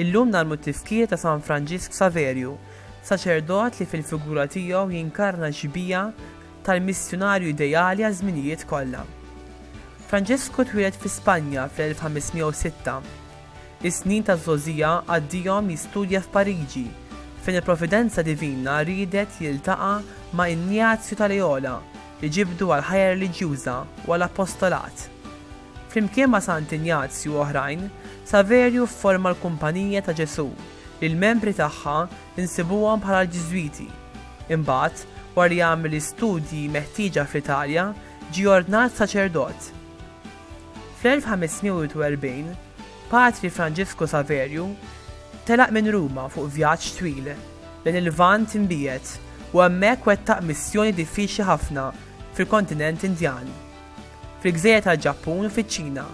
Illum nagħmlu t-tifkir ta' San Franġisk Saverju, saċerdot li fil-figura tiegħu jinkarna xbija tal-missjunarju ideali għaż-żminijiet kollha. Franġisku twieled fi Spanja fl-1506. Is-snin taż-żgħożija qaddihom jistudja f'Pariġi, fejn il-providenza divina riedet jiltaqa' ma' Injazju ta' Leola li ġibdu għall-ħajja reliġjuża u għall-apostolat. Flimkien ma' Sant Injazju u oħrajn, Saverju fforma l-Kumpanija ta' Ġesù li l-membri tagħha nsibuhom bħala l-Ġiżwiti. Imbagħad, wara li għamel l-istudji meħtieġa fl-Italja, ġie ordnat saċerdot. Fl-1541, Patri Franġisku Saverju telaq minn Ruma fuq vjaġġ twil lejn il-Lvant Imbiegħed u hemmhekk wettaq missjoni diffiċli ħafna fil-kontinent Indjan, fil-gżejjer tal-Ġappun u fiċ-Ċina,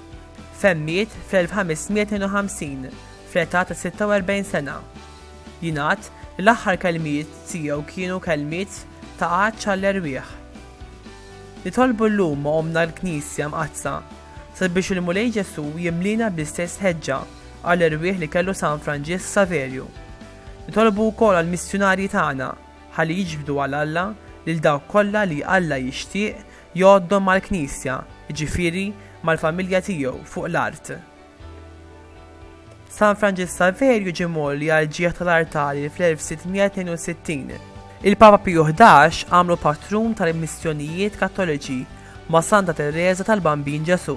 fejn miet fl-1552 fl-età ta' 46 sena. Jingħad li l-aħħar kelmiet tiegħu kienu kelmiet ta' għatx għall-erwieħ. Nitolbu llum ma' Ommna l-Knisja Mqaddsa sabiex il-Mulej Ġesù jimliena bl-istess ħeġġa għall-erwieħ li kellu San Franġisk Saverju. Nitolbu wkoll għall-missjunarji tagħna ħalli jiġbdu għal Alla lil dawk kollha li Alla jixtieq jgħoddhom mal-Knisja, jiġifieri mal-familja tiegħu fuq l-art. San Franġis Saverju ġie mgħolli għal ġieħ tal-artali fl-1662. Il-Papa Piju XI għamlu patrun tal-missjonijiet Kattoliċi ma' Santa Teresa tal-Bambin Ġesù.